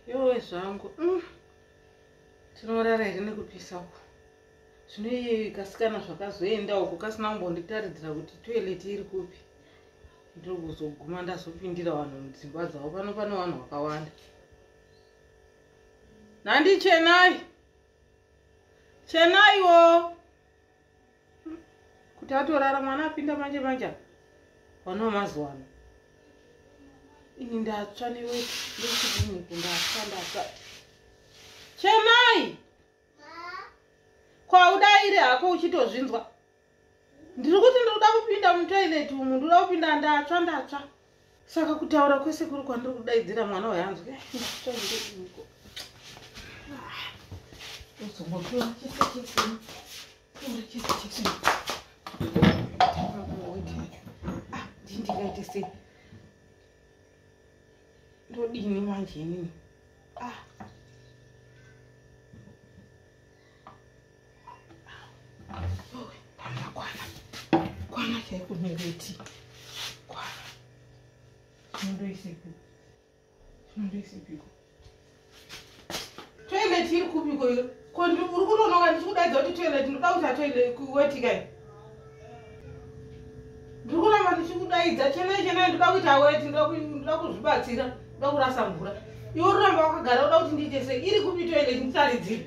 yowe zvangu mm. tinorara here nekupisa uku zvino iye kasikana zvakazoenda uku kasina kumbonditaridzira kuti toilet iri kupi ndiri kuzoguma ndazopindira vanhu mudzimba dzavo pano pane vanhu vakawanda nandi chenai chenaiwo kuti atorara mwana apinda manje manje apa vana vamazuva ano ini ndatsva neweti ndechidiniku ndatsva ndatsva chemai kwaudairi hako uchitozvinzwa ndiri kuti ndikuda kupinda mutoilet umu ndikuda kupinda ndatsva ndatsva saka kutaura kwese kuri kwandiri kudaidzira mwana uyo anzwi eh, ndatoiko uzongopiwa chese chesini tora chese chesini ah, ndii ndikaite sei ndodini manje inini ah. toilet iri kupi koyo ko uri kunonoka ndichikudaidza kuti toilet ndoda kuita toilet kuwetikai ndiri kuramba ndichikudaidza chenai chenai ndoda kuita weti ndoda kuzvibatsira ndoda kurasa mvura iwe uramba wakagara uda kuti ndiite sei iri kupi toilet ndisaridzire